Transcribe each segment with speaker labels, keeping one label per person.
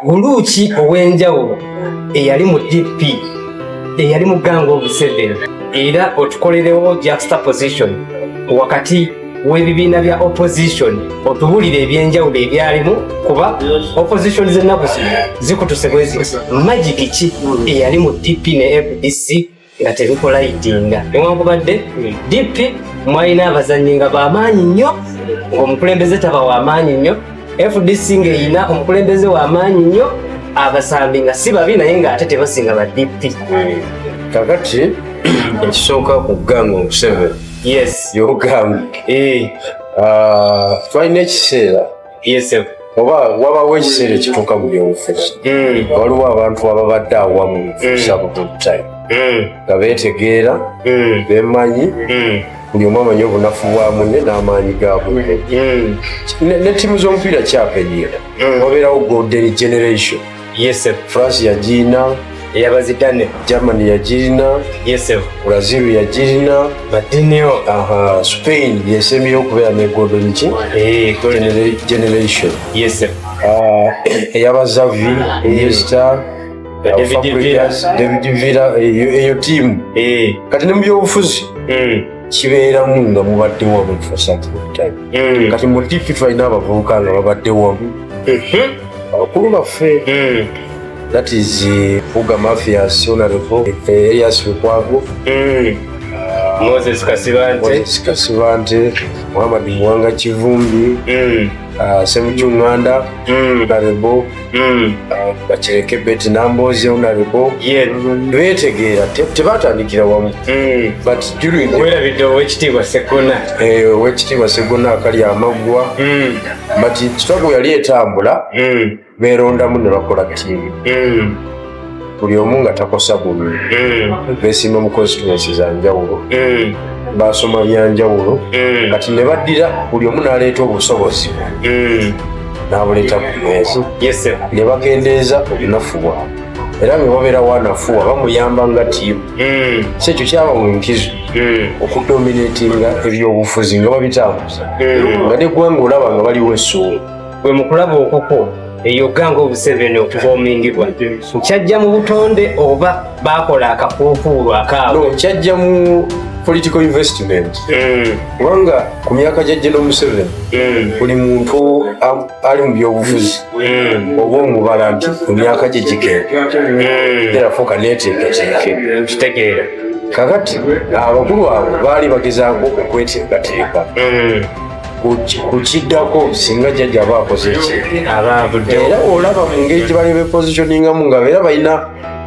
Speaker 1: Buluuki ow'enjawulo eyali mu DP eyali mu gang of seven era otukolerewo juxta position wakati w'ebibiina bya opposition otubulire ebyenjawulo ebyalimu kuba opposition z'ennaku zino zikutuse bweziti magiki ki eyali mu DP ne fdc nga tebikolaidinga newankubadde dp mwalina abazannyi nga bamaanyi nnyo ngaomukulembeze taba wamaanyi nnyo fdc ngaerina omukulembeze wamaanyi nnyo abasambi nga si babi naye ngaate tebasinga ba dp kakati
Speaker 2: ekisooka ku ganga omuseveni yes
Speaker 1: yogambe
Speaker 2: eh. ah, twalina ekiseera yesebo oba wabawo ekiseera ekituuka mu byobufuzi hmm. waliwo abantu ababadde awamu kusaba hmm. bultime hmm. nga beetegeera bemanyi buli omu amanyi obunafu bwa munne n'amaanyi ga munne ne ttiimu z'omupiira kyapenyiira wabeerawo golden generation yese france yagirina eyabazidane
Speaker 1: germany yagirina
Speaker 2: yese brazil yagirina madinio
Speaker 1: aha spain
Speaker 2: yesembyeyo okubeera ne golden ki eh, generation yese ah, eyabazavi yesta david villa eyo tiimu eh. kati ne mu byobufuzi hmm. kibeeramu nga mubadde wamu mm. kati mu dipi tulina abavubuka nga babadde wamu mm-hmm. abakulu baffe mm. that is eh, fuga mafias onareko eh, elias lukwago
Speaker 1: mm. ah, moses
Speaker 2: kasibante muhammad muwanga kivumbi ah, semucunganda narebo Mm. bakireke beti namboozi onalibo betegeera tebatandikira wamu mm. werabidde owekitiibwa
Speaker 1: segona eh, owekitiibwa
Speaker 2: segona akali amaggwa mm. but kitabu yali etambula berondamu ne bakola tiimu buli omu nga takosa buli eh. besimba mu constituency za njawulo eh. basoma byanjawulo eh. kati ne baddira buli omu n'aleeta obusobozi n'abuleeta ku meeza ne bakendeeza obunafu bwabwe era nga babeera wanafuwa bamuyamba nga tiimu si ekyo kyaba mu nkizo okudominatinga ebyobufuzi nga babitambuza nga neggwanga olaba nga baliwo essuumu gwe mu kulaba
Speaker 1: okukwo eyogga ng'obuseveni okuvoomingibwa kyajja mu butonde oba baakola akafuufuulu akaabo kyajja mu
Speaker 2: political investment mm. kubanga ku myaka gya geno museveni mm. buli muntu ali mu byobufuzi mm. oba omubala nti ku myaka gye gikeerafuuka neteekateekakitegeera kakati abakulu abo baali bagezaako okweteekateeka ku kiddako singa jjajja aba akoze ki era olaba mu ngeri gye bali bepositioningamu nga era balina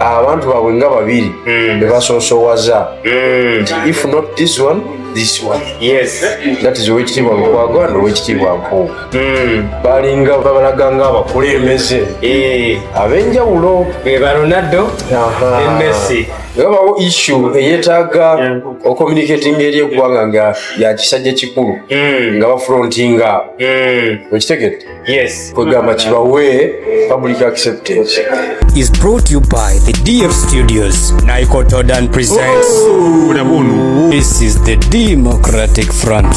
Speaker 2: abantu baabwe nga babiri hmm. be basoosowaza hmm. if not this one this one yes that is owekitiibwa lukwago and owekitiibwa nkuuka hmm. balinga babalaga nga abakulembeze eh. abenjawulo be baronaldo
Speaker 1: ne messi webawo issue
Speaker 2: eyetaaga ocommunicating eri eggwanga nga yakisajja kikulu hmm. nga bafrontinga hmm. okitegedde kwegamba kibawe public acceptance is brought
Speaker 3: you by the df studios nicotodan presents oh, oh, this is the democratic front